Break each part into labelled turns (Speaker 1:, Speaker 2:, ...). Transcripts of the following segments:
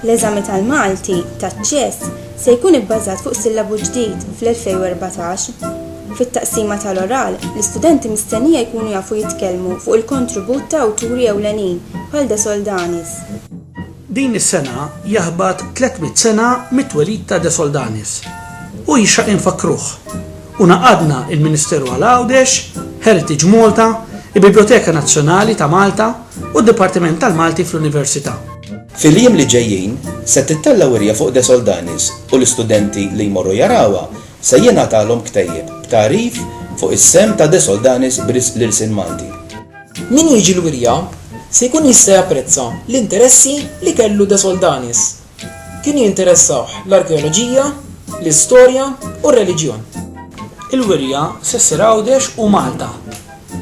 Speaker 1: L-eżami tal-Malti taċ-ċess se jkun ibbażat fuq sillabu ġdid fl-2014. Fit-taqsima tal-oral, l-istudenti mistennija jkunu jafu jitkellmu fuq il-kontribut ta' awturi ewlenin bħal De Soldanis. Din
Speaker 2: is-sena jaħbat 300 sena mit-twelid ta' De Soldanis u jixraq infakkruh u ngħaqadna l-Ministeru għal Għawdex, Heritage Malta, il-Biblioteka Nazzjonali ta' Malta u d-Dipartiment tal-Malti fl-Università. Fil-jiem li
Speaker 3: ġejjin, se tittella' wirja fuq De Soldanis u l-istudenti li jmorru jarawha se jingħatalhom ktejjeb b'tagħrif fuq is-sehem ta' De Soldanis b'risq l-ilsien Malti. Min jiġi
Speaker 4: l-wirja se jkun jista' japprezza l-interessi li kellu De Soldanis Kienu jinteressawh l-arkeoloġija, l-istorja u r-reliġjon. Il-wirja
Speaker 2: se ssir Għawdex u Malta.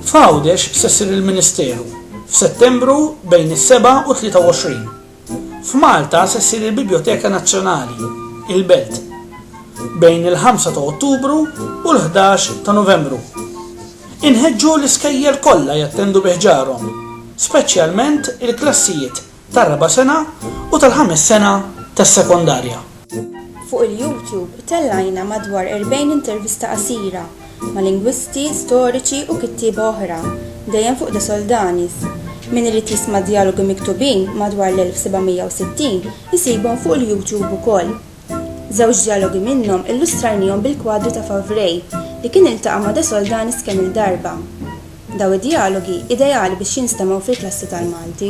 Speaker 2: F'Għawdex se ssir il-ministeru, f'Settembru bejn is-sebgħa u tlieta u għoxrin. F'Malta se ssir il-Bibljoteka Nazzjonali, il-Belt, bejn il-ħamsa ta' Ottubru u l-ħdax ta' Novembru. Inħeġġu l-iskejjel kollha jattendu bi ħġarhom, speċjalment il-klassijiet tar-raba' sena u tal-ħames sena tas-sekondarja. Fuq
Speaker 1: il-YouTube tellajna madwar 40 intervista qasira ma' lingwisti, storiċi u kittieba oħra, dejjem fuq De Soldanis. Min irid jisma' djalogi miktubin madwar l-1760 isibhom fuq il-YouTube ukoll. Żewġ djalogi minnhom illustrajnihom bil-kwadri ta' Favré, li kien iltaqa' ma' De Soldanis kemm-il darba. Dawn id-djalogi ideali biex jinstemgħu fil-klassi tal-Malti.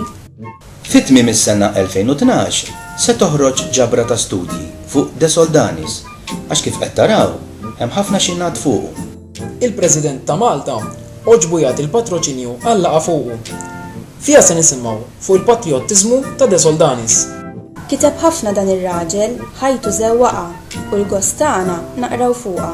Speaker 1: Fi tmiem
Speaker 3: is-sena 2012 se toħroġ ġabra ta' studji fuq De Soldanis għax kif qed taraw hemm ħafna xi jingħad fuqu. Il-President
Speaker 4: ta' Malta għoġbu jagħti l-patroċinju għal laqgħa fuqu. Fiha se nisimgħu fuq il-patrijottiżmu ta' De Soldanis. Kiteb
Speaker 1: ħafna dan ir-raġel, ħajtu żewwaqha u l-gost tagħna naqraw fuqha.